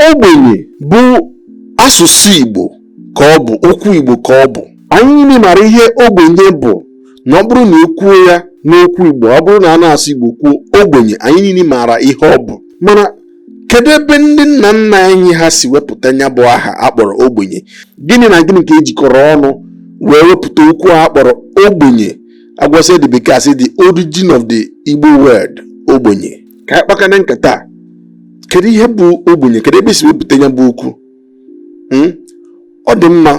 Ogbenye bụ asụsụ Igbo ka ọ bụ okwu Igbo ka ọ bụ anyị niile mara ihe ogbenye bụ na ọ bụrụ na ekwuo ya n'okwu Igbo ọ bụrụ na a na-asụ Igbo kwuo ogbenye anyị niile maara ihe ọ bụ mana kedu ebe ndị nna nna anyị ha si wepụta ya bụ aha akpọrọ ogbenye gịnị na gịnị ka ejikọrọ ọnụ wee wepụta okwu a akpọrọ ogbenye agwasị ndị bekee asị the origin of the Igbo word ogbenye ka anyị kpakana nkata a kedu ihe bụ ogbenye kedu ebe esi wepụta ya bụ okwu hmm? ọ dị mma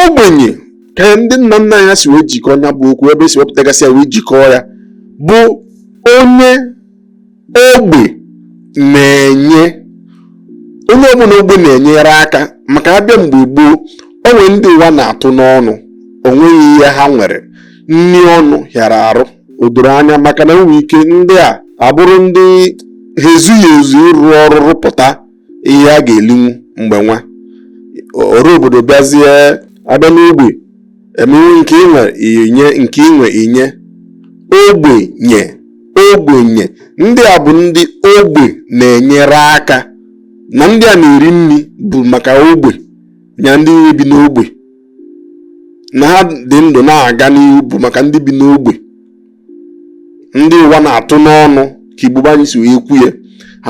ogbenye ka ndị nna nna anyị ha si wee jikọọ ya bụ okwu ebe esi wepụtagasị ya wee jikọọ ya bụ onye ogbe na-enye onye ọbụla ogbe na-enyere aka maka abịa mgbe gboo onwere ndị ụwa na-atụ n'ọnụ onweghị ihe ha nwere nri ọnụ hịara arụ o doro anya maka na enwere ike ndị a abụrụ ndị ha ezughị ezu ịrụ ọrụ rụpụta ihe ha ga-elinwu mgbe nwa ọra obodo bịazie abịa n'ogbe emewe nke inwe inye nke inwe inye ogbenye ogbenye ndị a bụ ndị ogbe na-enyere aka na ndị a na-eri nri bụ maka ogbe nya ndị bi n'ogbe na ha dị ndụ na-aga n'ihu bụ maka ndị bi n'ogbe ndị ụwa na-atụ n'ọnụ ka Igbo be anyị si wee kwu ya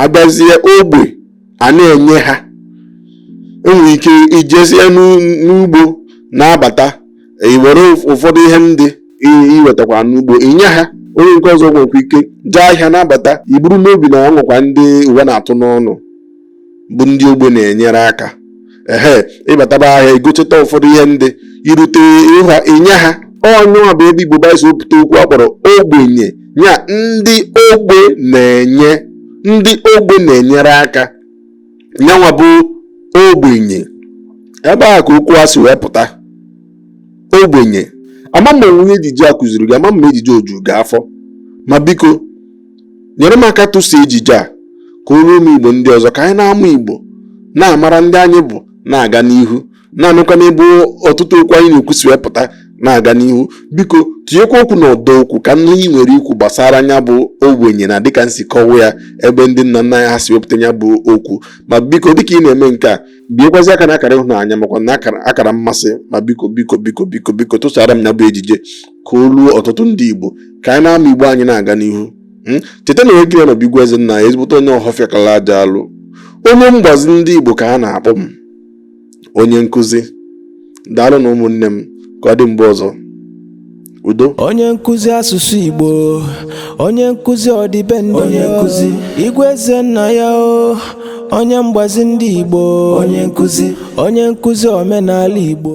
abịazie ogbe a na-enye ha enwere ike ijezie n'ugbo na-abata iwere ụfọdụ ihe ndị iwetakwa n'ugbo inye ha onye nke ọzọ nwekwa ike jee ahịa na-abata iburu n'obi na o nwekwa ndị ụwa na-atụ n'ọnụ bụ ndị ogbe na-enyere aka ehe ịbataba ahịa igocheta ụfọdụ ihe ndị irute ha inye ha ọ nyanwa bụ ebe igbo be anyị si wepụta okwu a kpọrọ ogbenye ya ndị ogbe na-enye ndị ogbe na-enyere aka nyanwa bụ ogbenye ebe a ka okwu a si wee pụta ogbenye ama m onwe ihe ejije a kụziri gị ama m ejije oju gị afọ ma biko nyere m aka tụsa ejije a ka o ruo ụmụ igbo ndị ọzọ ka anyị na-amụ igbo na-amara ndị anyị bụ na-aga n'ihu na-anụkwa n'ebe ọtụtụ okwu anyị na-ekwu si wee pụta na-aga n'ihu biko tinyekwa okwu na ọdọ okwu ka ihe inwere ikwu gbasara nya bụ ogbenye na dịka m si kọwa ya ebe ndị nna nna anyị ha si wepụta ya bụ okwu ma biko dịka ị na-eme nke a biekwazi aka na akara ịhụnanya makwa na akara mmasị ma biko biko biko biko biko tụsara m ya bụ ejije ka o ruo ọtụtụ ndị Igbo ka anyị na-ama Igbo anyị na-aga n'ihu hmm? cheta na onye gị na ya nọ bụ Igwe Ezennaya ezigbote onye ọhọfịa kala aja alụ onye mgbazi ndị Igbo ka a na-akpọ m onye nkụzi daalụ nụ ụmụnne m ka ọ dị mgbe ọzọ udo onye nkụzi asụsụ Igbo onye nkụzi ọdịbendị onye nkụzi Igwe Ezennaya o onye mgbazi ndị Igbo onye nkụzi onye nkụzi omenala Igbo